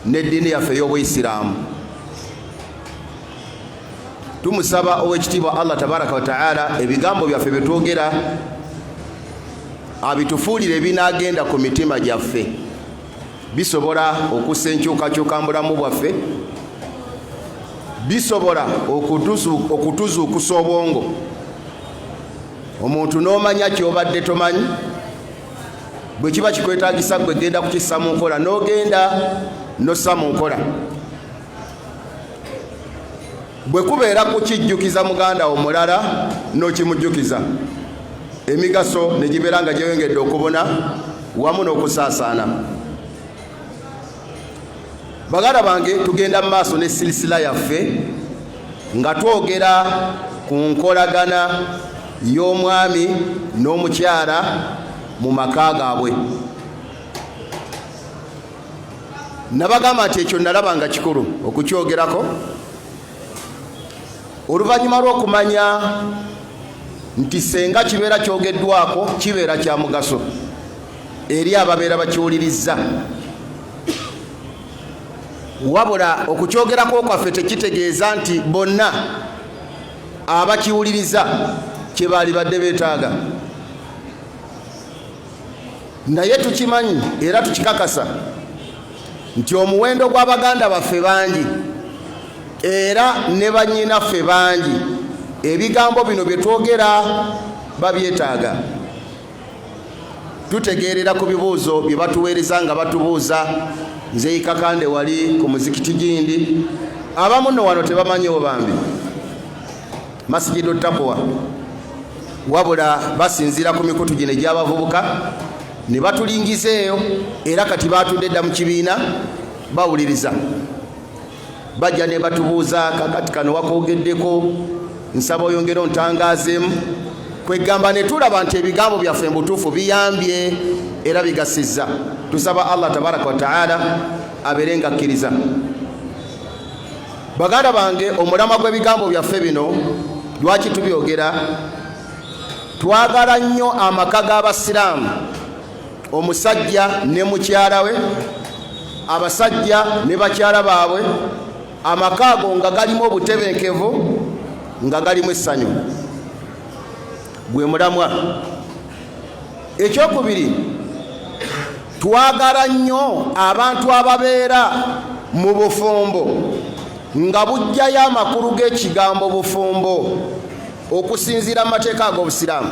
n'eddiini yaffe ey'obuyisiraamu tumusaba ow'ekitiibwa allah tabaraka wataala ebigambo byaffe byetwogera abitufuulire ebinaagenda ku mitima gyaffe bisobola okussa enkyukakyuka mu bulamu bwaffe bisobola okutuzuukusa obwongo omuntu n'omanya kyobadde tomanyi bwe kiba kikwetagisa gwe genda kukissa mu nkola n'ogenda nossa mu nkola bwe kubeera kukijjukiza muganda wo mulala n'okimujjukiza emigaso ne gibeera nga gyeyongedde okubuna wamu n'okusaasaana baganda bange tugenda mu maaso ne silisila yaffe nga twogera ku nkolagana y'omwami n'omukyala mu maka gaabwe nabagamba nti ekyo nalaba nga kikulu okukyogerako oluvannyuma lw'okumanya nti senga kibeera kyogeddwako kibeera kya mugaso eri ababeera bakiwulirizza wabula okukyogerako kwaffe tekitegeeza nti bonna abakiwuliriza kye baalibadde beetaaga naye tukimanyi era tukikakasa nti omuwendo gwa baganda baffe bangi era ne bannyinaffe bangi ebigambo bino bye twogera babyetaaga tutegeerera ku bibuuzo bye batuweereza nga batubuuza nzeyikakande wali ku muzikiti gindi abamu no wano tebamanyiwo bambi masijidu takuwa wabula basinziira ku mikutu gino egyabavubuka ne batulingiza eyo era kati baatudde dda mu kibiina bawuliriza bajja ne batubuuza kakati kano wakogeddeko nsaba oyongere ontangazeemu kwegamba ne tulaba nti ebigambo byaffe mu butuufu biyambye era bigasizza tusaba allah tabaraka wataala abeere nga akkiriza baganda bange omulama gw'ebigambo byaffe bino lwaki tubyogera twagala nnyo amaka g'abasiraamu omusajja ne mukyala we abasajja ne bakyala baabwe amaka ago nga galimu obutebenkevu nga galimu essanyu gwe mulamwa ekyokubiri twagala nnyo abantu ababeera mu bufumbo nga bujjayo amakulu g'ekigambo bufumbo okusinziira mu mateeka ag'obusiraamu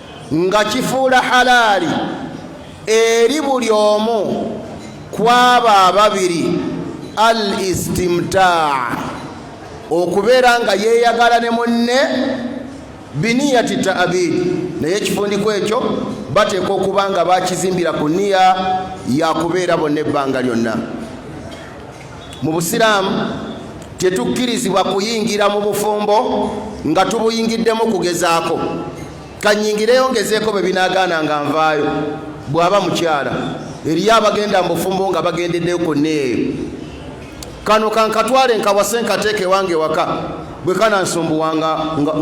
nga kifuula halaali eri buli omu kwabo ababiri al istimtaa okubeera nga yeeyagala ne munne biniyati taabid naye ekifundiko ekyo bateeka okuba nga bakizimbira ku niya yakubeera bonna ebbanga lyonna mu busiraamu tetukkirizibwa kuyingira mu bufumbo nga tubuyingiddemu kugezaako kanyingireyo ngezeeko bwe binaagaana nga nvaayo bw'aba mukyala eriyo abagenda mu bufumbo nga bagendeddeyo konna eyo kano kankatwale nkawase nkateeka ewange waka bwe kanansumbuwa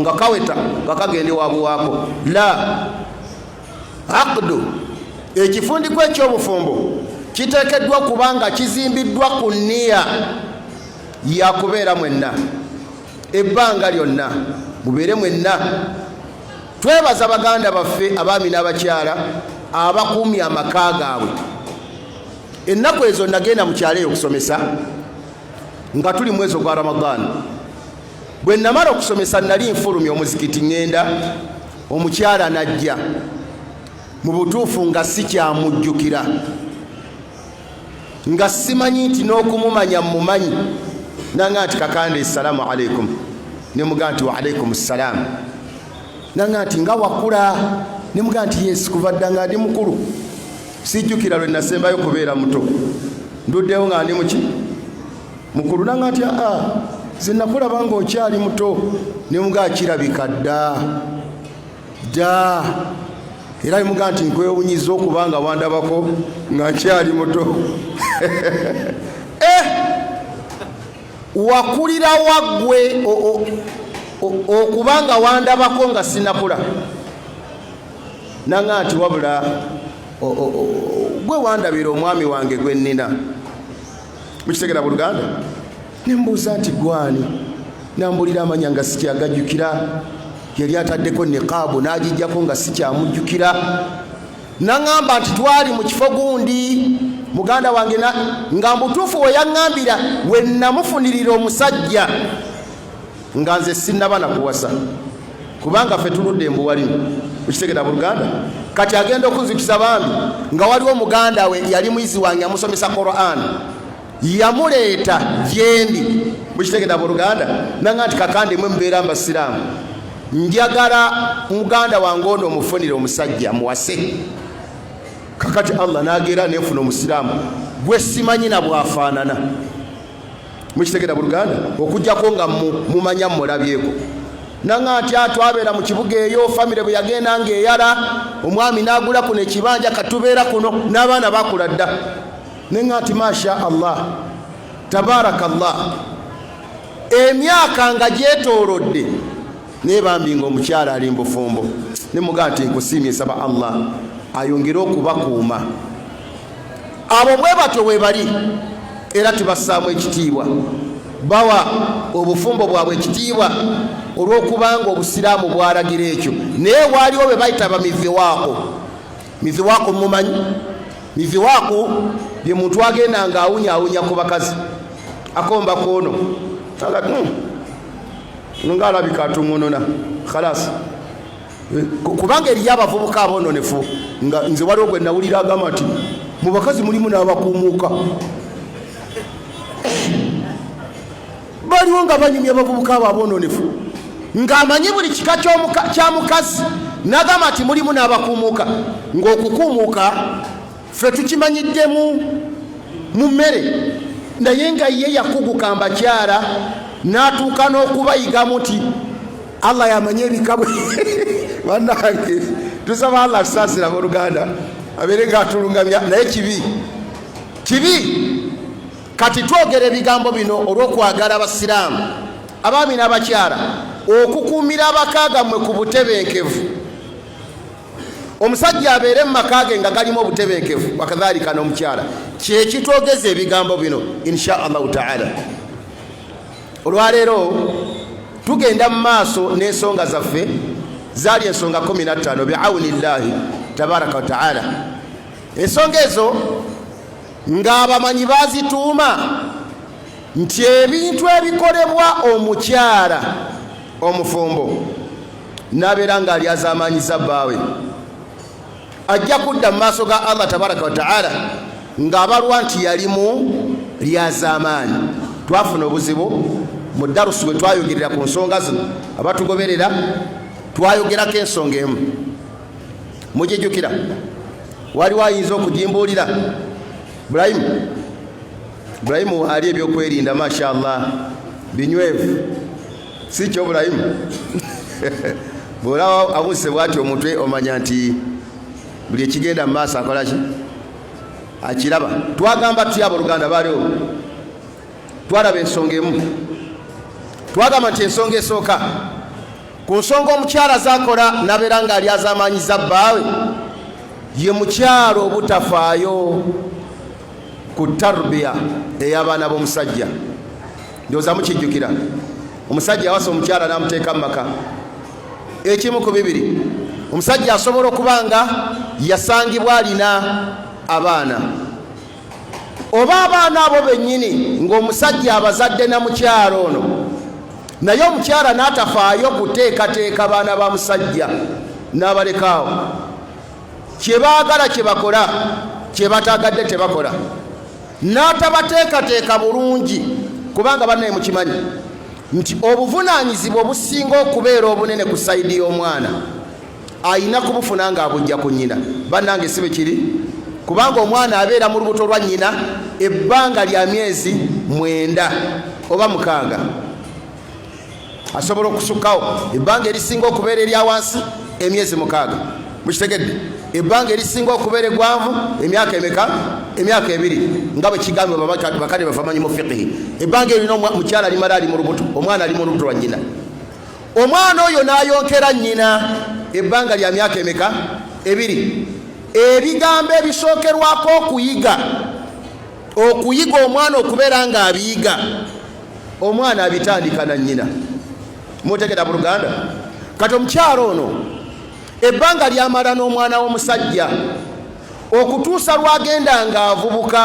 nga kaweta nga kagenda ewabuwaako la aqdu ekifundikwa ekyobufumbo kiteekeddwa kuba nga kizimbiddwa ku niya yakubeera mwenna ebbanga lyonna mubeere mwenna twebaza baganda baffe abaami n'abakyala abakuumye amaka gaabwe ennaku ezo nagenda mu kyalo eyo okusomesa nga tuli mwezi ogwa ramadaani bwe namala okusomesa nali nfulumya omuzikiti ŋŋenda omukyala n'ajja mu butuufu nga sikyamujjukira nga simanyi nti n'okumumanya mumanyi nanga nti kakanda essalaamu aleikum ne mugaa nti waalaikum ssalaamu nanga nti nga wakula ne mugaa nti yesi kuva dda nga ndi mukulu sijjukira lwe nasembayo kubeera muto nduddewo nga ndi muki mukulu nanga nti aa zinakulaba nga okyali muto nemuga akirabika dda dda era nemuga nti nkwewunyiza okuba nga wandabako nga nkyali muto eh! wakulira waggwe okuba nga wandabako nga sinakula nanga nti wabula gwe wandabira omwami wange gwe nnina mukitegera buluganda nembuuza nti gwani nambulira amanya nga sikyagajjukira yali ataddeko niqaabu n'agijjako nga sikyamujjukira naŋamba nti twali mu kifo gundi muganda wange nga mbutuufu we yaŋambira we namufunirira omusajja nga nze sinnaba na kuwasa kubanga ffe tuludde embuwalimu ukitegera buluganda kati agenda okunzikisa bambi nga waliwo muganda we yali muyizi wange amusomesa quran yamuleeta gyendi mukitegera buluganda nanga nti kakande mwe mubeera mbasiraamu njagala muganda wange ono omufunire omusajja muwase kakati allah nagera nefuna omusiraamu gwesimanyi na bwafaanana mukitegera buluganda okujjako nga mumanya mulabyeko nanga nti atwabeera mu kibuga eyo famire bwe yagenda nga eyala omwami nagula kuno ekibanja katubeera kuno n'abaana bakula dda nenga nti masha allah tabaraka llah emyaka nga gyetoolodde naye bambi nga omukyala ali mbufumbo nemugaa nti nkusiimye nsaba allah ayongere okubakuuma abo bwe batyo webali era tubassaamu ekitiibwa bawa obufumbo bwabwe ekitiibwa olw'okubanga obusiraamu bwalagira ekyo naye waaliwo be bayita bamiviwaako miviwaako mumanyi miviwaako bye muntu agenda nga awunya awunya ku bakazi akomba koono hmm, nga alabika atungununa khalasi kubanga eriyo abavubuka abononefu nga nze waliwo gwe nawulira agamba nti mu bakazi mulimu n'abakuumuuka baliwo nga banyumya abavubuka abo abononefu ng'amanyi buli kika kya mukazi nagamba nti mulimu n'abakuumuuka ng'okukuumuuka ffe tukimanyiddemu mu mmere naye nga ye yakuguka mbakyala n'atuuka n'okubayigamu nti allah yamanye ebikabwe banange tusaba allah tusaasira abooluganda abeere nga atulungamya naye kibi kibi kati twogera ebigambo bino olw'okwagala abasiraamu abaami n'abakyala okukuumira abakaagamwe ku butebenkevu omusajja abeere mu maka ge nga galimu obutebenkevu wakadhalika n'omukyala kyekitwogeza ebigambo bino insha allahu taala olwaleero tugenda mu maaso n'ensonga zaffe zaali ensonga 15 biauni llahi tabaraka wataala ensonga ezo ng'abamanyi bazituuma nti ebintu ebikolebwa omukyala omufumbo n'abeera ng'alyazaamaanyizza bbaawe ajja kudda mu maaso ga allah tabaraka wataala ng'abalwa nti yalimu lyazaamaanyi twafuna obuzibu mu darusu bwe twayogerera ku nsonga zino abatugoberera twayogerako ensonga emu mugijukira waliwo ayinza okugimbuulira bulayimu bulayimu ali ebyokwerinda mashallah binywevu si kyo bulayimu bwolaba abuse bwati omutwe omanya nti buli ekigenda mu maaso akolaki akiraba twagamba tuyaba oluganda baliwo twalaba ensonga emu twagamba nti ensonga esooka ku nsonga omukyala zakola nabeera nga ali azamanyiza bbaawe ye mukyalo obutafaayo ku tarbiya ey'abaana b'omusajja ndowooza mukijjukira omusajja yawasa omukyala n'amuteeka mu maka ekimu ku bibiri omusajja asobola okuba nga yasangibwa alina abaana oba abaana abo bennyini ng'omusajja abazadde na mukyalo ono naye omukyala n'atafaayo kuteekateeka baana ba musajja n'abalekaawo kye baagala kye bakola kye bataagadde tebakola n'atabateekateeka bulungi kubanga bannaye mukimanyi nti obuvunaanyizibwa obusinga okubeera obunene ku sayidi y'omwana ayina kubufuna nga abujja ku nnyina bannange si bwe kiri kubanga omwana abeera mu lubuto lwa nnyina ebbanga lya myezi mwenda oba mukaaga asobola okusukkawo ebbanga erisinga okubeera erya wansi emyezi mukaaga mukitegedde ebbanga erisinga okubeera egwanvu emyaka emeka emyaka ebiri nga bwe kigambibwa bakadde bafamanyi mu fiqihi ebbanga eryo lina mukyala alimala ali mu lubuto omwana ali mu lubuto lwa nnyina omwana oyo n'ayonkera nnyina ebbanga lya myaka emeka ebiri ebigambo ebisookerwako okuyiga okuyiga omwana okubeera ng'abiyiga omwana abitandika na nnyina mutegera buluganda kati omukyalo ono ebbanga lyamala n'omwana w'omusajja okutuusa lwagenda ng'avubuka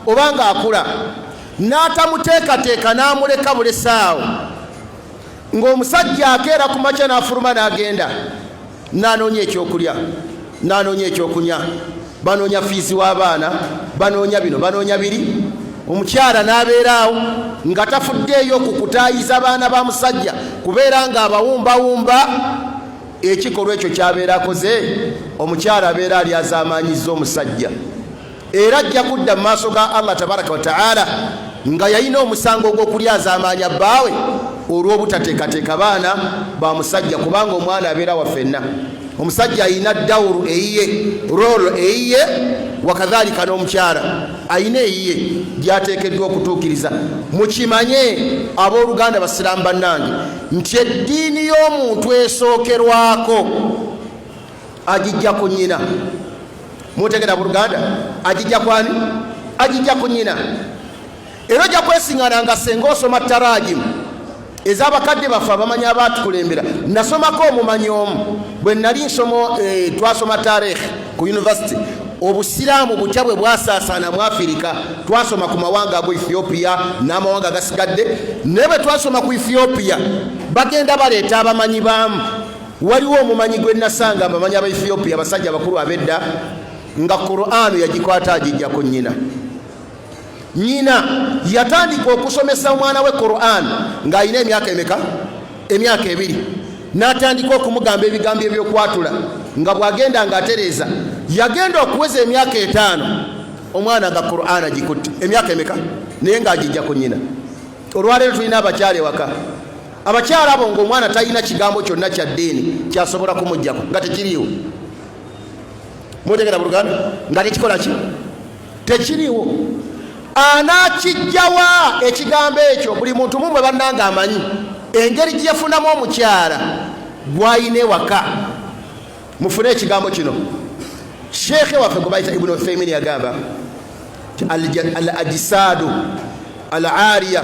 oba ng'akula n'atamuteekateeka n'amuleka bulesaawo ng'omusajja akeera ku makya n'afuluma n'agenda n'anoonya ekyokulya n'anoonya ekyokunya banoonya fiizi w'abaana banoonya bino banoonya biri omukyala n'abeeraawo nga tafuddeeyo ku kutaayiza baana ba musajja kubeera ng'abawumbawumba ekikolwa ekyo kyabeera akoze omukyala abeera alyazaamaanyizza omusajja era ajja kudda mu maaso ga allah tabaraka wataala nga yalina omusango ogw'okulyazaamaanya bbaawe olw'obutateekateeka baana ba musajja kubanga omwana abeera waffenna omusajja alina dawuru eyiye rolo eyiye wakadhalika n'omukyala alina eyiye gyateekeddwa okutuukiriza mukimanye abooluganda basiraamu bannange nti eddiini y'omuntu esookerwako agijja ku nyina mutegera buluganda agijja kwani agijja ku nyina era ojja kwesingana nga senga osoma tarajimu ezabakadde baffe abamanyi abaatukulembera nasomako omumanyi omu bwe nali nsomo eh, twasoma tarikhi ku univesity obusiraamu butya bwe bwasaasaana mu afirika twasoma ku mawanga ago ethiopia n'amawanga agasigadde naye bwe twasoma ku ethiopia bagenda baleeta abamanyi baamu Waliwo omumanyi gwe nasanga abamanyi aba Ethiopia abasajja abakulu ab'edda nga Qur'an yagikwata agijja ku nnyina. Nnyina yatandika okusomesa omwana we Qur'an ng'alina emyaka emeka? Emyaka ebiri. N'atandika okumugamba ebigambo eby'okwatula nga bw'agenda ng'atereeza. Yagenda okuweza emyaka etaano omwana nga Qur'an agikutte. Emyaka emeka? Naye ng'agijja ku nnyina. Olwaleero tulina abakyala ewaka. abakyala abo ngaomwana talina kigambo kyonna kya ddiini kyasobola kumujjako nga tekiriiwo mutegera buluganda nga tekikola ki tekiriiwo anakijjawa ekigambo ekyo buli muntu mumwe bannanga amanyi engeri gyeyafunamu omukyala gwayina ewaka mufune ekigambo kino sheekhe waffe gwe bayita ibuni uthaimin yagamba al ajisaadu al aria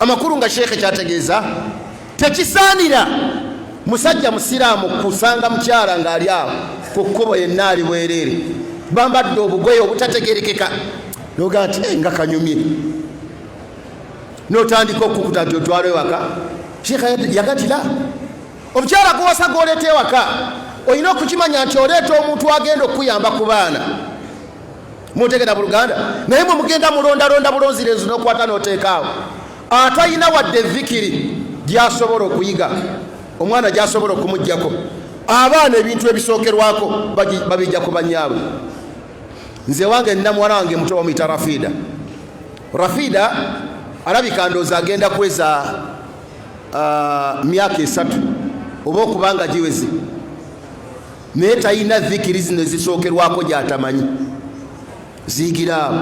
amakulu nga sheekhe kyategeeza tekisaanira musajja musiraamu kusanga mukyala ng'ali awo ku kkubo yenna ali bwereere bambadde obugoye obutategerekeka noga nti eh, nga kanyumye notandika okukuta nti otwala ewaka sheekha yagatira omukyala guwasa gwoleeta ewaka olina okukimanya nti oleeta omuntu agenda okukuyamba ku baana mutegera buluganda naye mwe mugenda mulondalonda bulonzirenzi nokwata noteekaawo atalina wadde vikiri gyasobola okuyiga omwana gyasobola okumugjako abaana ebintu ebisookerwako babijja ku banyaabwe nze wange nina muwala wange muto bamuyita rafida rafida alabika ndooza agenda kweza uh, myaka esatu oba okubanga giwezi naye talina zikiri zino ezisookerwako gyatamanyi ziyigira abo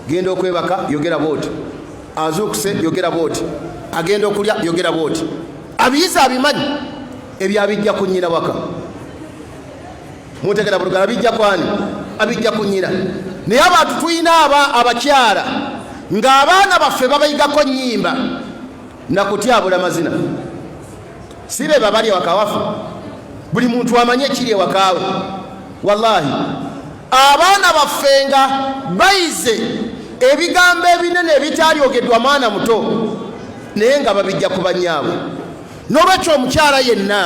genda okwebaka yogera bwoti azuukuse yogera bwoti agenda okulya yogera bwoti abiyiza abimanyi ebyo abijja ku nnyina waka mutegera bulugala abijja kwani abijja ku nnyina naye abantu tulina aba abakyala ng'abaana baffe babayigako nnyimba nakutyabula mazina si be babali ewaka waffe buli muntu amanye ekiri ewakaawe wallahi abaana baffe nga bayize ebigambo ebinene ebitaalyogedwa mwana muto naye nga babijja ku banyaabwe n'olwekyo omukyala yenna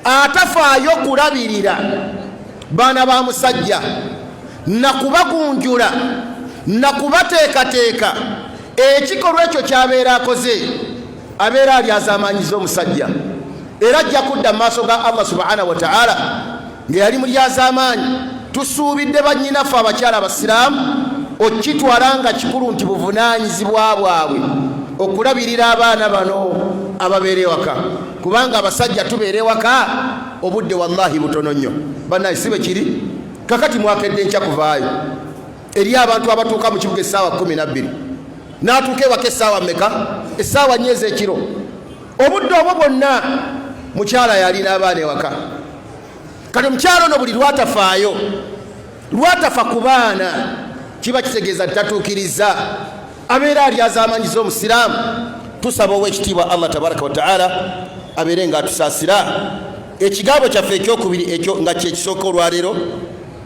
atafaayo kulabirira baana ba musajja nakubagunjula nakubateekateeka ekikolwa ekyo kyabeera akoze abeera alyazamanyiza omusajja era ajja kudda mu maaso ga allah subhana wataala nga yali mulyazamaanyi tusuubidde bannyinaffe abakyala abasiraamu okitwala nga kikulu nti buvunaanyizibwa bwabwe okulabirira abaana bano ababeera ewaka kubanga abasajja tubeera ewaka obudde wallahi butono nnyo banaye si bwe kiri kakati mwakedde nkya kuvaayo eri abantu abatuuka mu kibuga essaawa kumi nabbiri n'atuuka ewaka essaawa meka essaawa nyo ez'ekiro obudde obwo bwonna mukyala yalina abaana ewaka kati omukyala ono buli lwatafaayo lwatafa ku baana kiba kitegeeza ntitatuukiriza abeera alyazamanyiza omusiraamu tusaba owekitiibwa allah tabaraka wataala abeere nga atusaasira ekigambo kyaffe ekyokubiri ekyo nga kyekisooka olwaleero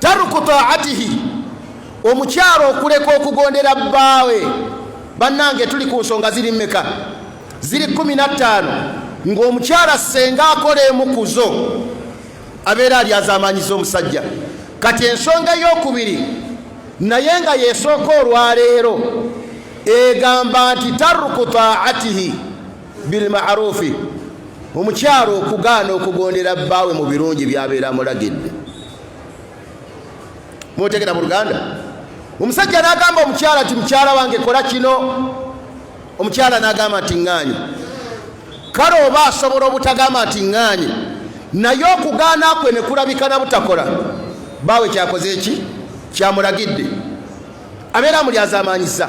taruku taatihi omukyalo okuleka okugondera bbaawe bannange tuli ku nsonga ziri meka ziri kumi na ttaano ng'omukyala ssenga akola emu ku zo abeera alyazaamaanyiza omusajja kati ensonga ey'okubiri naye nga yesooka olwaleero egamba nti taruku taatihi bilmarufi omukyalo okugaana okugondera bbaawe mu birungi byabeera amulagidde mutegera mu luganda omusajja nagamba omukyala nti mukyala wange kola kino omukyala nagamba nti ŋŋaanyi kale oba asobola obutagamba nti ŋŋaanyi naye okugaana kwe ne kulabika na butakola baawe kyakoze eki kyamulagidde abeera amulyazamaanyiza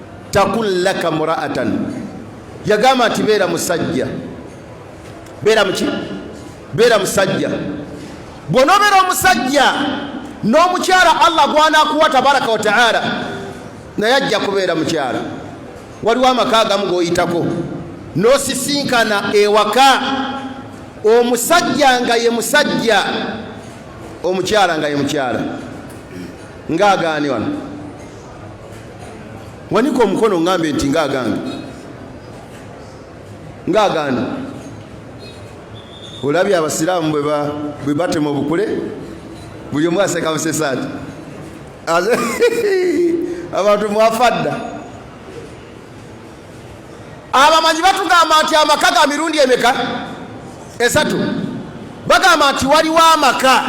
takun laka muraatan yagamba nti beera musajja beera muki beera musajja bw'onobeera omusajja n'omukyala allah gwanakuwa tabaraka wataala naye ajja kubeera mukyala waliwo amaka agamu g'oyitako n'osisinkana ewaka omusajja nga ye musajja omukyala nga ye mukyala ng'agaani wano wanika omukono ngambe nti nga agange nga agani olabye abasiraamu bwe batema obukule buli omu aseka busesaati abantu mwafa dda abamanyi batugamba nti amaka ga mirundi emeka esatu bagamba nti waliwo amaka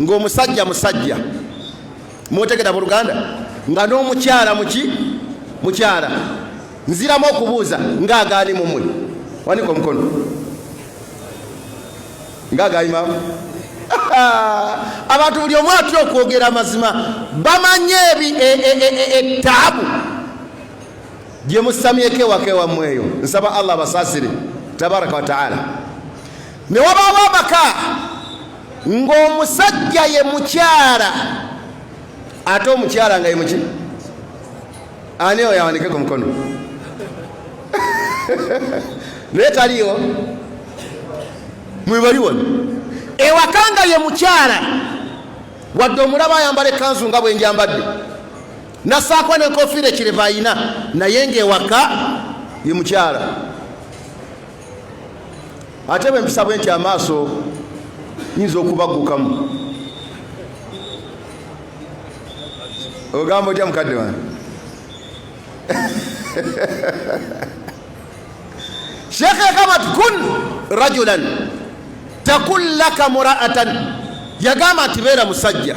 ng'omusajja musajja mwotegera mu luganda nga n'omukyala muki mukyala nziramu okubuuza ngaagaani mumwe wanika omukono ngaagaimaamu abantu buli omu atya okwogera amazima bamanye etaabu e, e, e, gye musamyeko ewaka ewammwe eyo nsaba allah abasaasire tabaraka wataala ne wabaawo amaka ng'omusajja ye mukyala ate omukyala nga ye muki ani oyo awandike ku mukono naye taliyo mwebali wano ewaka nga ye mukyala wadde omulaba ayambala ekanzu nga bwenjambadde nasaako nenkofiira ekireva ayina naye ngaewaka ye mukyala ate bwe mpisa bwe nti amaaso nyinza okubaggukamu ogamba otya mukadde wange shekhe kamat kun rajulan takun laka muraatan yagamba nti beera musajja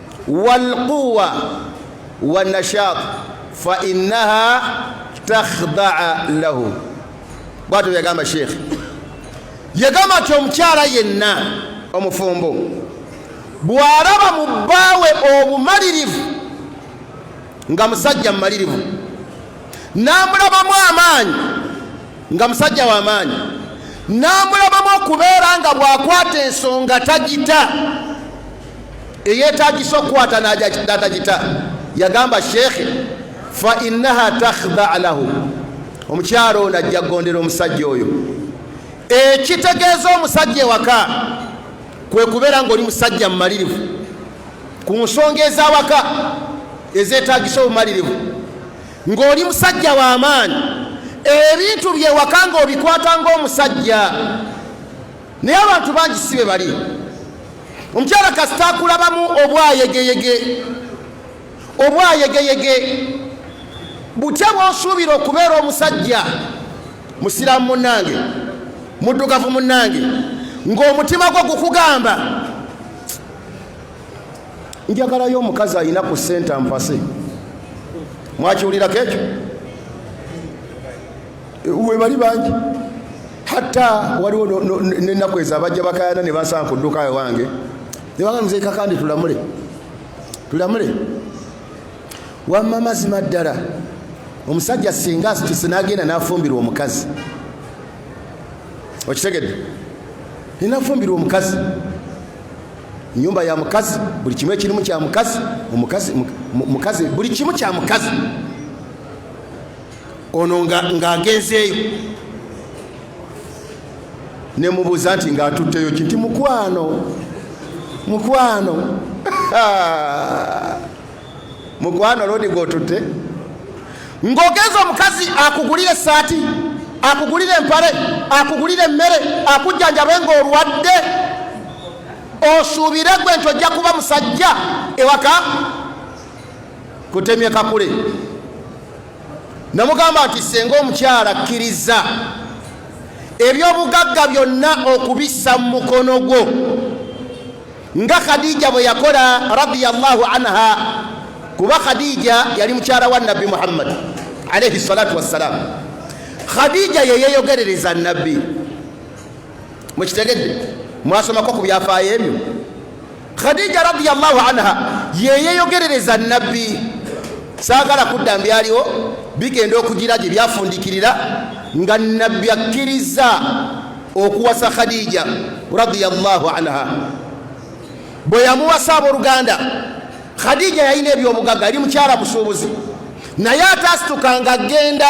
walquwa wanashat fainaha takhdaa lahu bwatyo byagamba sheikh yagamba nti omukyala yenna omufumbo bw'alaba mu bbaawe obumalirivu nga musajja mumalirivu n'amulabamu amaanyi nga musajja w'amaanyi n'amulabamu okubeera nga bw'akwata ensonga tagita eyeetagisa okukwata n'atagita yagamba sheekhe fa innaha takhdaa lahu omukyalo ono ajja kugondera omusajja oyo ekitegeeza omusajja ewaka kwe kubeera ng'oli musajja mumalirivu ku nsonga ez'awaka ezeetagisa obumalirivu ng'oli musajja w'amaanyi ebintu byewaka ng'obikwata ng'omusajja naye abantu bangi si be bali omukyala kasita akulabamu obwayegeyege obwayegeyege butya bwosuubira okubeera omusajja musiraamu munnange muddugavu munnange ng'omutima gwo gukugamba njagalayo omukazi alina ku senta mpase mwakiwulirako ekyo webali bangi hatta waliwo nenaku ezo abajja bakayana ne basanga ku dduka ewange nebanga mzee kakande tulamule tulamule wamma mazima ddala omusajja singa asituse nagenda nafumbirwa omukazi okitegedde nenafumbirwa omukazi nyumba ya mukazi buli kimu ekirimu kya mukazi mukazi buli kimu kya mukazi ono ng'agenzeeyo ne mubuuza nti ng'atutteyo ki nti mukwano mukwano mukwano lodi gwotutte ng'ogenza omukazi akugulire esaati akugulire empale akugulire emmere akujjanjabe ng'olwadde osuubire gwe nti ojja kuba musajja ewaka kutemye kakule namugamba nti senga omukyala kkiriza ebyobugagga byonna okubissa mu mukono gwo nga khadija bwe yakola radiyallahu anha kuba khadija yali mukyala wa nabbi muhammadi alaihi salatu wassalamu khadija yeyeyogerereza nabbi mukitegedde mwasomako ku byafaayo ebyo khadija radiallahu anha yeyeyogerereza nabbi saagala kudda mbyaliwo bigenda okugira gye byafundikirira nga nabbi akkiriza okuwasa khadija radiallahu anha bwe yamuwasa abooluganda khadija yalina ebyobugagga yali mukyala musuubuzi naye ataasituka ng'agenda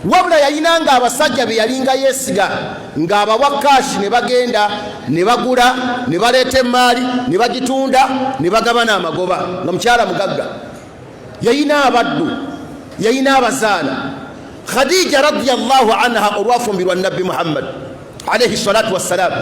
wabula yalina nga abasajja be yalinga yeesiga ng'abawa kaashi ne bagenda ne bagula ne baleeta emmaali ne bagitunda ne bagabana amagoba nga mukyala mugagga yalina abaddu yalina abazaana khadija radiallahu anha olwafumbirwa nabbi muhammad alaihi salatu wassalaamu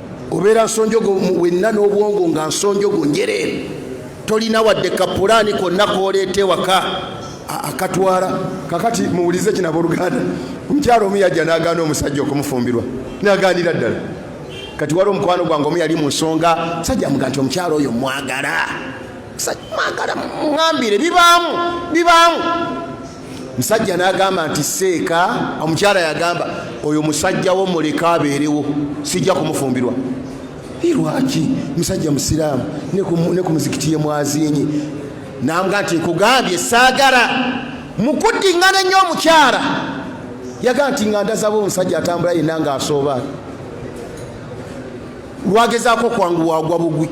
obeera nsonjogo wenna n'obwongo nga nsonjogo njereere tolina wadde kapulaani konna kooleeta ewaka akatwala kakati muwulize kino abooluganda omukyalo omu yajja n'agaana omusajja okumufumbirwa n'agaanira ddala kati wali omukwano gwange omu yali mu nsonga sajja muga nti omukyalo oyo mwagala mwagala mwambire bibaamu bibaamu musajja nagamba nti seeka omukyala yagamba oyo musajja wo muleke abeerewo sijja kumufumbirwa lwaki musajja musiraamu ne ku muzikiti ye mwazinyi nambwa nti nkugambye saagala mukuddingana ennyo omukyala yaga nti nga ndazaba omusajja atambula yenna nga asooba lwagezaako kwangu wagwa bugwi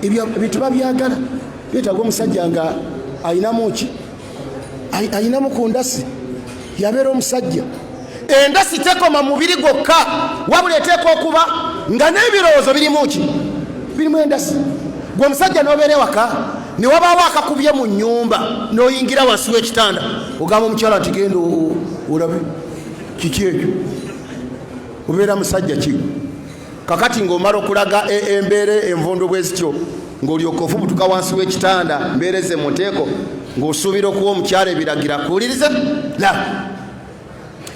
ebintu babyagala byetaaga omusajja nga alinamu ki ayinamu ku ndasi yabeera omusajja endasi tekoma mubiri gwokka wabula eteeka okuba nga n'ebirowoozo birimu ki birimu endasi gwe omusajja nobeera ewaka newabaawo akakubye mu nyumba noyingira wansi wekitanda ogamba omukyala nti genda olabe kiki ekyo obeera musajja ki kakati ng'omala okulaga e, embeera envundu bwe zityo ng'olyoka ofubutuka wansi w'ekitanda mbeera eze mu nteeko ng'osuubira okuwa omukyala ebiragira kuwuliriza la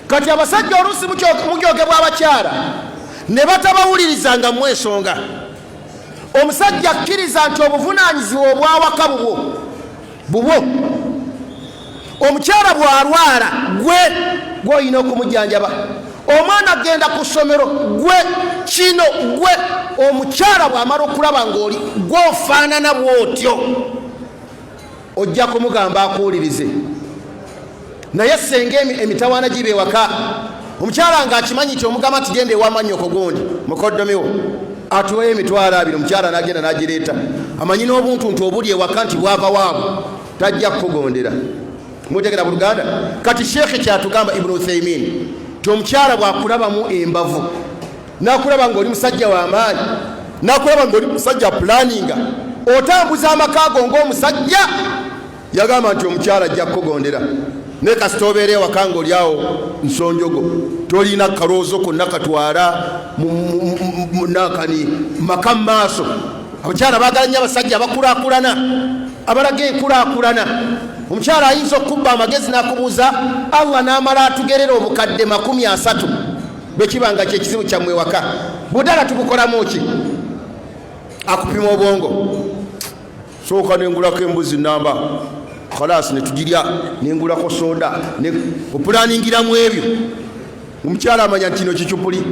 kati abasajja oluusi mukyogebwa abakyala ne batabawuliriza nga mu ensonga omusajja akkiriza nti obuvunaanyizibwa obwawaka bubwo bubwo omukyala bw'alwala gwe gw'olina okumujjanjaba omwana agenda ku ssomero gwe kino gwe omukyala bw'amala okulaba ng'oli gw'ofaanana bw'otyo ojja kumugamba akuwulirize naye senga emitawaana giba ewaka omukyala nga akimanyi nti omugamba nti genda ewamanyoko gundi mukoddomiwo atuweyo emitwalo abiri omukyala nagenda nagireeta amanyi n'obuntuntu obuli ewaka nti bwava waabwe tajja kukugondera mutegera buluganda kati sheekhe kyatugamba ibuni uthaimin ti omukyala bwakulabamu embavu nakulaba ngaoli musajja wamaanyi nakulaba ngaoli musajja pulaninga otambuza amaka go ngaomusajja Yagamba nti omukyala ajja kukugondera naye kasita obeera ewaka nga olyawo nsonjogo tolina kaloozo konna katwala nakani maka mumaaso abakyala bagala nyo abasajja abakulakulana abalaga enkulakulana omukyala ayinza okukubba amagezi nakubuuza allah namala atugerera obukadde makumi asatu bwekiba nga kyekizibu kyammwe waka budala tubukolamu ki akupima obwongo sooka nengulako embuzi namba kalaasi netugirya nengulako soda opulaningiramu ebyo omukyala amanya nti kino kicupuli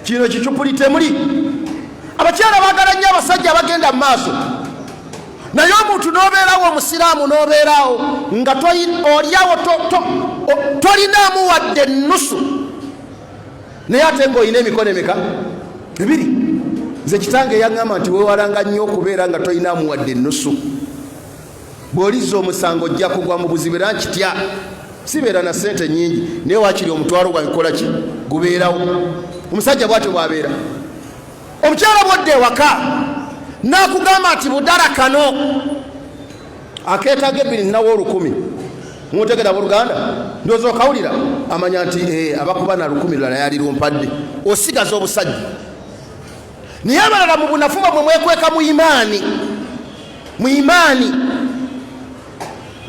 kino kicupuli temuli abakyala bagala nnyo abasajja abagenda mu maaso naye omuntu nobeerawo omusiraamu nobeerawo nga olyawo tolinaamu wadde ennusu naye ate nga olina emikono emeka ebiri nze kitange yaŋŋamba nti weewalanga nnyo okubeera nga tolina amuwadde ennusu bw'olizza omusango ojja kugwa mu buzibu era nkitya sibeera na ssente nnyingi naye wakiri omutwalo gwange kola ki gubeerawo omusajja bwatyo bwabeera omukyala bwodda ewaka n'akugamba nti budala kano akeetaaga ebbiri nnawo olukumi muntegera abooluganda ndooza okawulira amanya nti eh, abakuba na lukumi lulala yali lumpadde osigaza obusajja naye abalala mu bunafu bamwe mwekweka mu imaani mu imaani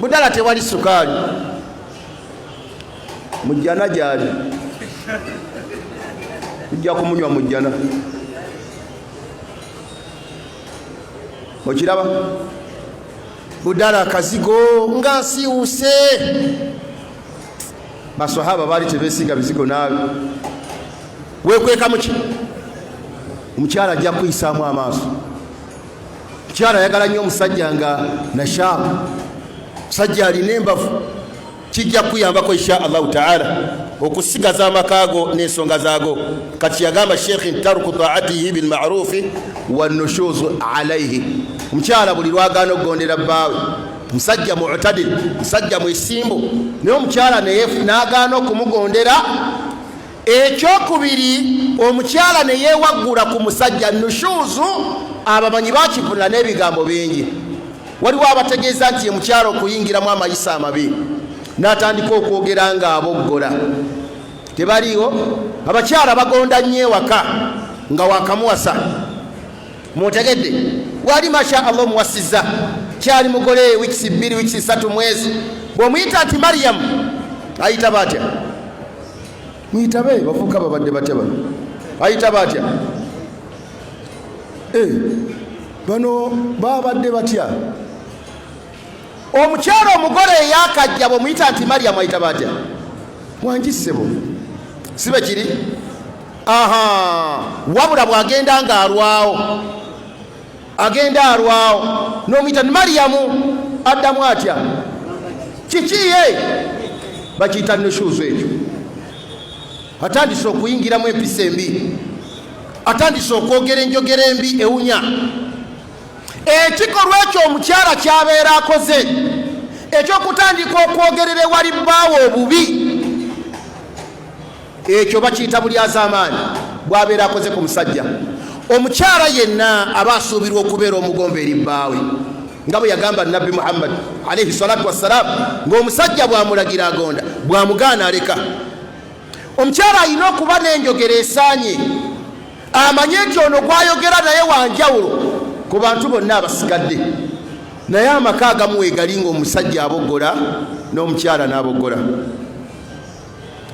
budala tewali sukaali mujjana gyali tujja kumunywa mujjana okiraba budala akazigo nga nsiwuse baswahaba baali tebesiga bizigo naawe wekweka muki omukyala ajja kuyisaamu amaaso omukyala ayagala nnyo omusajja nga nashaabu musajja alina embavu kijja kuyambako insha allahu taala okusigaza amaka go n'ensonga zaago kati yagamba sheikh ntaruku taatihi bilmarufi wanushuzu alaihi omukyala buli lwagaana okugondera bbaawe musajja mutadil musajja mwesimbu naye omukyala nagaana okumugondera ekyokubiri omukyala neyewaggula ku musajja nushuzu abamanyi bakivunula n'ebigambo bingi Waliwo abategeeza nti ye mukyala okuyingiramu amayisa amabi n'atandika okwogera ng'aboggola. Tebaliiwo abakyala bagonda nnyo ewaka nga wakamuwasa mutegedde wali masha allah omuwasizza kyali mugole wikisi bbiri wikisi satu mwezi bw'omuyita nti mariyamu ayita batya muyitabe bavuka babadde batya bano ayitaba atya eh, bano babadde batya omukyalo omugole eyakajja bwemuyita nti mariyamu ayitaba atya wangisebo sibe kiri aha wabula bwagenda ng'alwawo agenda alwawo nomuyita ni mariyamu addamu atya kikiye bakiyita nushuuzu ekyo atandise okuyingiramu empisa embi atandise okwogera enjogera embi ewunya ekikolwa ekyo omukyala kyabeera akoze ekyokutandika okwogerera ewali bbaawo obubi ekyo bakiyita bulyazaamaanyi bwabeera akoze ku musajja omukyala yenna aba asuubirwa okubeera omugombe eri bbaawe nga bwe yagamba nabbi muhammadi alaihi salatu wassalaamu ng'omusajja bwamulagira agonda bwamugaana aleka omukyala alina okuba n'enjogera esaanye amanye nti ono gwayogera naye wanjawulo ku bantu bonna abasigadde naye amaka agamu wegali ng'omusajja abogola n'omukyala n'abogola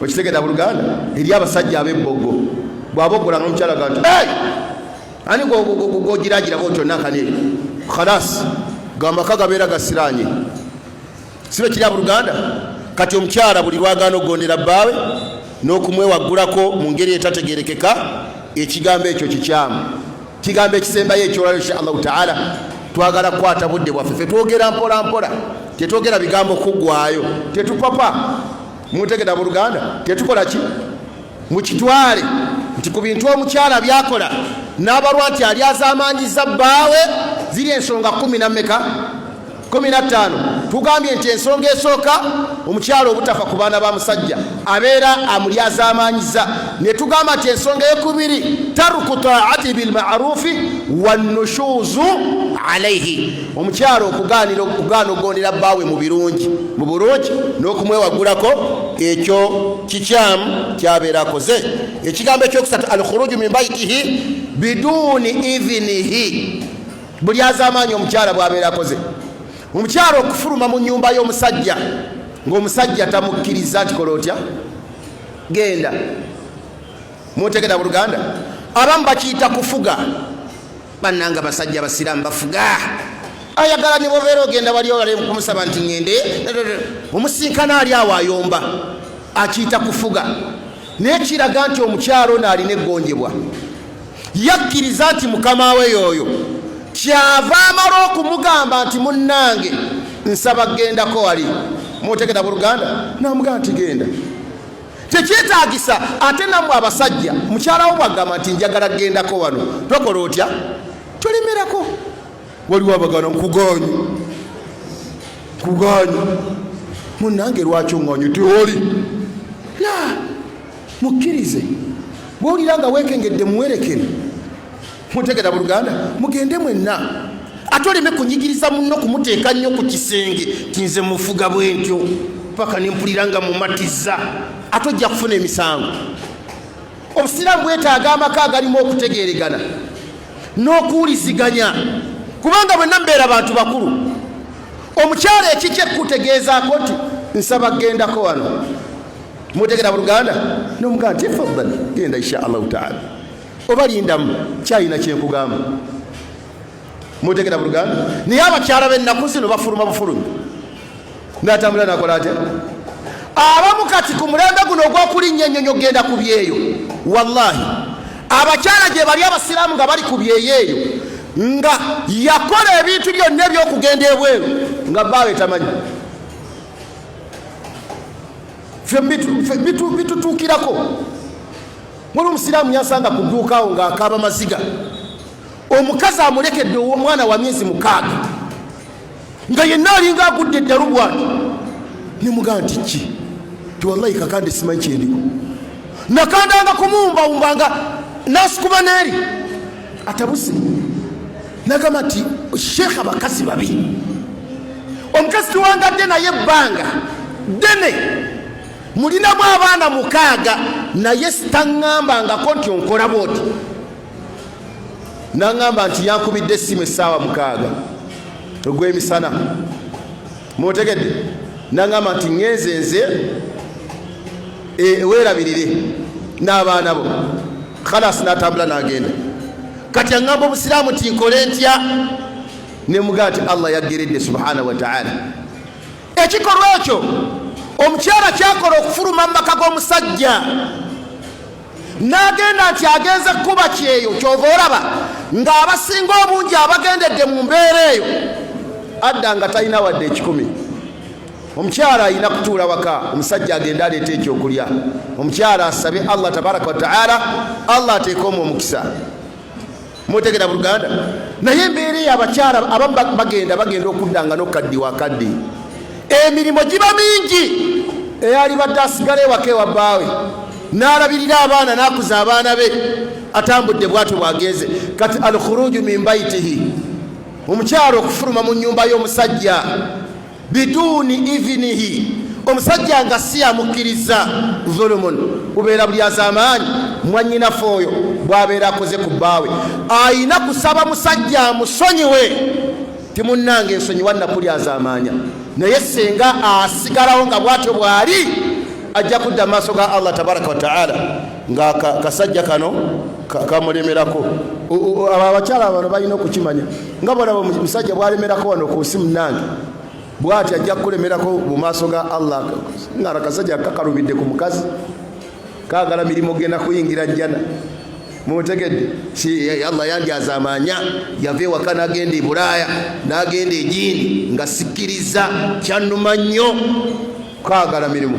okitegera buluganda eri abasajja abebbogo bwaba okola nomukyala ga nti ani gogiragirako otyo nakane khalas gamaka gabeera gasiranye sibe kiri abuluganda kati omukyala buli lwagaana okugondera bbaawe n'okumwewaggulako mu ngeri etategerekeka ekigambo ekyo kikyamu kigambo ekisembayo ekyolalo insha allahu taala twagala kukwata budde bwaffe fe twogera mpola mpola tetwogera bigambo kuggwayo tetupapa mutegeda mu luganda tetukola ki mukitwale nti ku bintu omukyala byakola n'abalwa nti alyazaamaanyiza bbaawe ziri ensonga kumi na meka kumi na ttaano tugambye nti ensonga esooka omukyalo obutafa ku baana ba musajja abeera amulyazaamaanyiza ne tugamba nti ensonga eyokubiri taruku taati bilmarufi wanushuuzu alaihi omukyalo okugaanira okugaana okugondera bbaawe mu birungi mu bulungi n'okumwewagulako ekyo kikyamu kyabeera akoze ekigambo ekyokusatu alkhuruju min baitihi biduuni idhinihi buli azamaanyi omukyala bwabeera akoze omukyala okufuluma mu nyumba y'omusajja ng'omusajja tamukkiriza nti kola otya genda mutegera buluganda abamu bakiyita kufuga bannanga basajja abasiraamu bafuga ayagala ne bobeera ogenda wali olale kumusaba nti ŋende omusinkana ali awo ayomba akiyita kufuga naye kiraga nti omukyalo ono alina eggonjebwa yakkiriza nti mukama we yooyo kyava amala okumugamba nti munnange nsaba gendako wali mutegeta buluganda namugamba nti genda tekyetagisa ate namwe abasajja mukyalawo bwagamba nti njagala gendako wano tokola otya tolemerako waliwo abagana nkuganyi nkuganyi munange lwaki oŋanyi tioli mukkirize bwowulira nga wekengedde muwerekere mutegera buluganda mugende mwenna ate oleme kunyigiriza munno kumuteeka nnyo ku kisenge tinze mufuga bwentyo paka nempulira nga mumatiza ate ojja kufuna emisango obusiraamu bwetaaga amaka agalimu okutegeregana n'okuwuliziganya kubanga bwenna mbeera bantu bakulu omukyalo ekikye kukutegeezaako nti nsaba gendako wano mutegera buluganda nomugaa nti fadal genda insha allahu taala oba lindamu kyayina kyenkugamba mutegera buluganda naye abakyala benaku zino bafuluma bufulumi natambula nakola atya abamu kati ku mulembe guno ogwokulinnya ennyonyo genda ku byeyo wallahi abakyala gye bali abasiraamu nga bali ku byeyo eyo nga yakola ebintu byonna ebyokugenda ebweru nga baawe tamanyi bitutuukirako muli omusiraamu yasanga ku dduuka awo ng'akaaba maziga omukazi amulekedde omwana wa myezi mukaaga nga yenna alinga agudde eddalu bwati nemugaa nti ki tiwallayi kakande simanyi kyendiko nakandanga kumuwumbawumbanga nasikuba neeri atabuse nagamba nti sheekh abakazi babi omukazi tuwangadde naye ebbanga ddene mulinamu abaana mukaaga naye sitaŋŋambangako nti onkola bwoti naŋŋamba nti yankubidde essimu essaawa mukaaga ogw'emisana mutegedde nangamba nti ngenze nze eh, werabirire n'abaana bo khalas natambula nagenda kati angamba obusiraamu tinkole ntya nemugaa ti allah yaggeredde subhanahu wataala ekikolwa ekyo omukyala kyakola okufuluma mu maka g'omusajja n'agenda nti agenze kukuba kyeyo kyova olaba ng'abasinga obungi abagendedde mu mbeera eyo adda nga talina wadde ekikumi omukyala alina kutuula waka omusajja agende aleeta ekyokulya omukyala asabe allah tabaraka wataala allah ateekeomu omukisa mutegera buluganda naye embeera eyo abakyala abamu bagenda bagenda okuddanga nokaddi wakaddi emirimu giba mingi eyali badde asigala ewaka ewa bbaawe n'alabirira abaana n'akuza abaana be atambudde bwatyo bwagenze kati alkhuruju min baitihi omukyalo okufuluma mu nyumba y'omusajja biduuni idhinihi omusajja nga si yamukkirizza zulumun kubeera bulyazamaanyi mwanyinafe oyo bwabeera akoze ku bbaawe ayina kusaba musajja amusonyiwe timunnanga ensonyiwa nakulyazamaanya naye singa asigalawo nga bwatyo bwali ajja kudda maaso ga allah tabaraka wataala nga kasajja kano kamulemerako abakyala bano balina okukimanya nga bwolaba omusajja bwalemerako wano ku nsi munange bwati ajja kukulemerako mu maaso ga allah ngara kasajja kakalubidde ku mukazi kagala mirimu genda kuyingira jjana mutegedde si eh, allah yandyazamanya yava ewaka nagenda ebulaaya nagenda egindi nga sikiriza kyanuma nnyo kwagala mirimu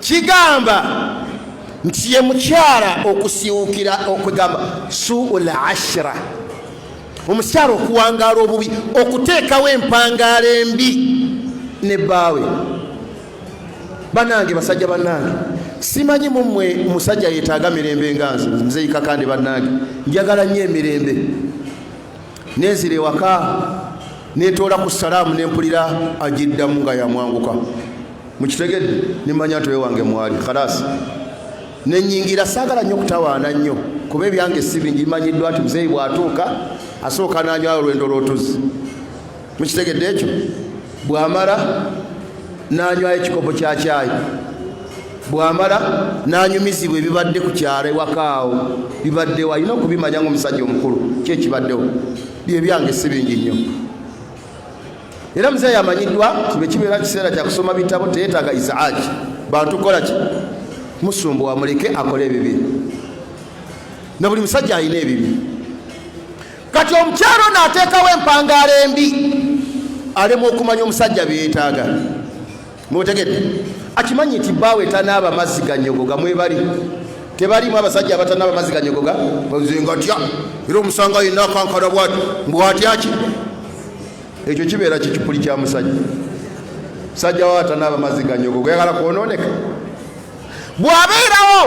kigamba nti ye mukyala okusiwukira okwegamba suul ashira omukyala okuwangaala obubi okuteekawo empangaala embi ne bbaawe banange basajja banange simanyi mumwe musajja yetaaga mirembe nga nze nzeyikakande banange njagala nnyo emirembe nenzira ewaka netoola ku salaamu nempulira agiddamu nga yamwanguka mukitegedde nemanya nti wewange mwali khalasi nenyingira saagala nnyo kutawaana nnyo kuba ebyange si bingi bimanyiddwa nti muzeeyi bwatuuka asooka nanyo alwendo lwotuzi mukitegedde ekyo bwamala nanywayo ekikopo kya kyayi bwamala nanyumizibwa ebibadde ku kyalo ewakaawo bibaddewo alina okubimanya ngaomusajja omukulu kyekibaddewo byebyange si bingi nnyo era muzeeyi amanyiddwa kibe kibeera kiseera kyakusoma bitabo teyetaaga isaaki bantu kukola ki musumbuwa muleke akole ebibi na buli musajja alina ebibi kati omukyalo naateekawo empangaala embi alema okumanya omusajja byeyetaaga mutegedde akimanyi nti baawe tanaaba mazzi ganyogoga mwebali tebalimu abasajja abatanaba mazzi ganyogoga nze ngatya era omusanga yenna akankala bwati mbwatyaki ekyo kibeera kikipuli kya musajja musajja wa atanaba mazzi ganyogoga yagala kwononeka bw'abeerawo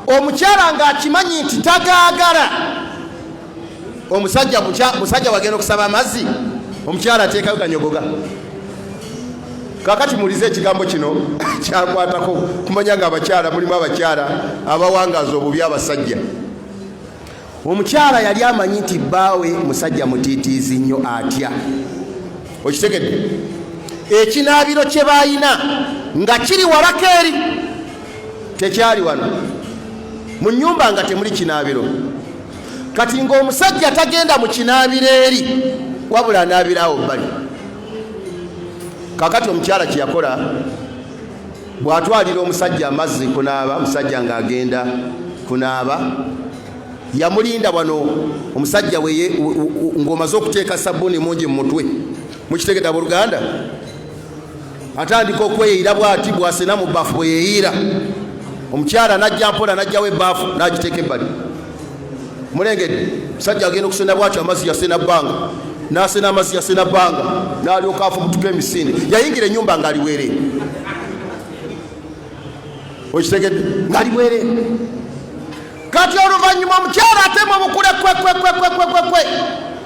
omukyala ng'akimanyi nti tagaagala omusajja musajja wagenda okusaba amazzi omukyala ateekayo ganyogoga kakati mulize ekigambo kino kyakwatako kumanya nga abakyala mulimu abakyala abawangaza obubi abasajja Omukyala yali amanyi nti bbaawe musajja mutiitiizi nnyo atya. Okitegedde? Ekinaabiro kye baalina nga kiri walako eri, tekyali wano mu nnyumba nga temuli kinaabiro. Kati ng'omusajja tagenda mu kinaabiro eri, wabula anaabiraawo bbali. Kakati omukyala kye yakola bw'atwalira omusajja amazzi kunaaba omusajja ng'agenda kunaaba yamulinda wano omusajja ng'omaze okuteeka sabbuuni mungi mu mutwe mukitegeta buluganda atandika okweyiira bwati bwasena mu bbafu bwe yeyiira omukyala najja mpola najjawo ebbaafu n'agiteeka ebbali mulengedde musajja agenda okusena bwatyo amazzi yasena bbanga nasena amazzi yasena bbanga nalyoka afubutuka emisinde yayingira enyumba nga aliwere okitegedde nga aliwere kati oluvanyuma omukyala atema obukule kwekwekwekwekwekwe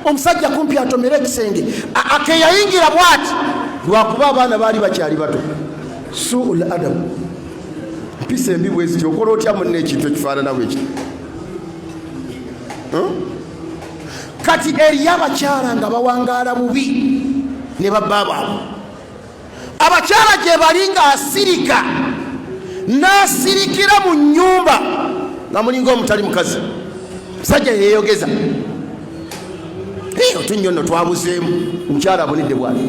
omusajja kumpi atomere ekisenge akeyayingira bwati lwakuba abaana baali bakyali bato suul adamu mpisa embi bweziti okola otya munna ekintu ekifaanana bwekiti kati eriyo abakyala nga bawangaala bubi ne babba baabwe abakyala gye bali nga asirika n'asirikira mu nnyumba nga mulinga omutali mukazi musajja yeyogeza otunnyo no twabuzeemu omukyala abonedde bwati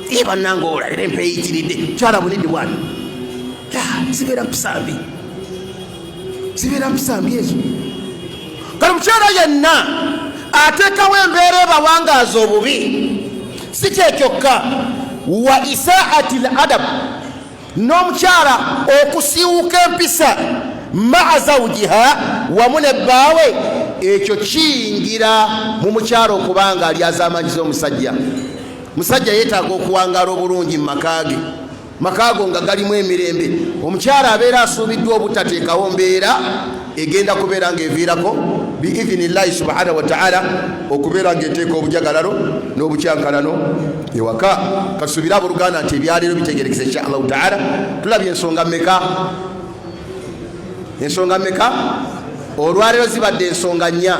ye bannanga olalera empeeyitiridde mukyala abonedde bwati zibeera mpisambi zibeera musanvu ezo kale mukyala yenna ateekawo embeera ebawangaaza obubi si kyekyokka wa isaati l adabu n'omukyala okusiiwuka empisa maa zawujiha wamu ne bbaawe ekyo kiyingira mu mukyala okubanga alyazamanyiza omusajja musajja yeetaaga okuwangaala obulungi mu maka ge makaago nga galimu emirembe omukyala abeera asuubiddwa obutateekawo mbeera egenda kubeera ng'eviirako biidhini llahi subhanahu wataala okubeera ng'eteeka obujagalalo n'obukyankalano ewaka kasuubire abooluganda nti ebyaleero bitegerekesa insha allahu taala tulabye ensonga meka ensonga meka olwaleero zibadde ensonga nnya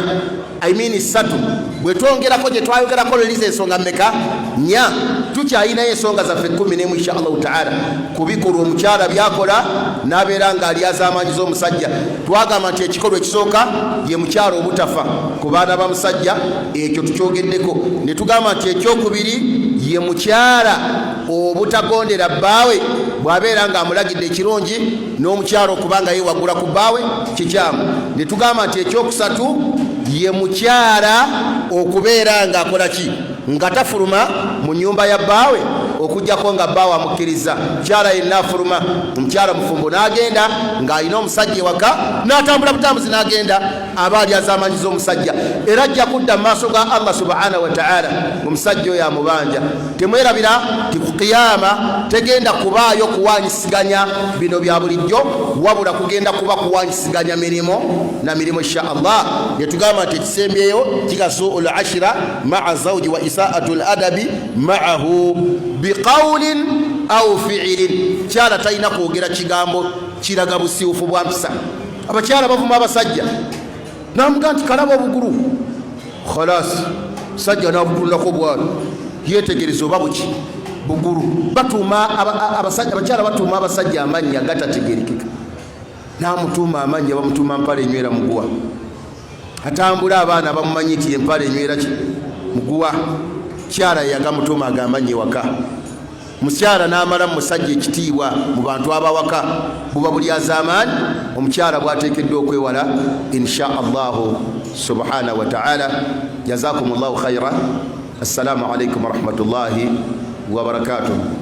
i mean ssatu bwe twongerako gye twayogerako leliza ensonga meka nya tukyayinayo ensonga zaffe kumi nemu insha allahu taala kubikolwa omukyala byakola nabeera nga alyazaamaanyi z'omusajja twagamba nti ekikolwa ekisooka ye mukyala obutafa ku baana ba musajja ekyo tukyogeddeko ne tugamba nti ekyokubiri ye mukyala obutagondera bbaawe bw'abeera ng'amulagidde ekirungi n'omukyalo okubanga yewaggula ku bbaawe kikyamu ne tugamba nti ekyokusatu ye mukyala okubeera ng'akola ki nga tafuluma mu nyumba ya bbaawe okujjako nga bbaawe amukkiriza mukyala yenna afuluma omukyala mufumbo n'agenda ng'alina omusajja ewaka n'atambula butambuzi n'agenda aba ali azamanyiza omusajja era ajja kudda mu maaso ga allah subhanahu wataala omusajja oyo amubanja temwerabira nti ku kiyama tegenda kubaayo kuwanyisiganya bino bya bulijjo wabula kugenda kuba kuwanyisiganya mirimu na mirimu insha allah netugamba nti ekisembyeyo kikasuu lashira maa zauji wa isaatu ladabi maahu biqaulin au fiilin kyala talina kwogera kigambo kiraga busiufu bwa mpisa abakyala bavuma abasajja namuga nti kalaba obugulu khalasi sajja nabutunulako bwalo yetegereza oba buki bugulu batuuma abakyala batuuma abasajja amannya gatategerekeka namutuuma amannya bamutuuma mpala enywera muguwa atambula abaana bamumanyi nti empala enywera muguwa kyala yagamutuuma agamannyi waka mukyala n'amala mu musajja ekitiibwa mu bantu abawaka buba bulyazaamaanyi omukyala bwateekeddwa okwewala insha allahu subhanahu wataala jazakum llahu khaira assalamu alaikum warahmatullahi wabarakatuh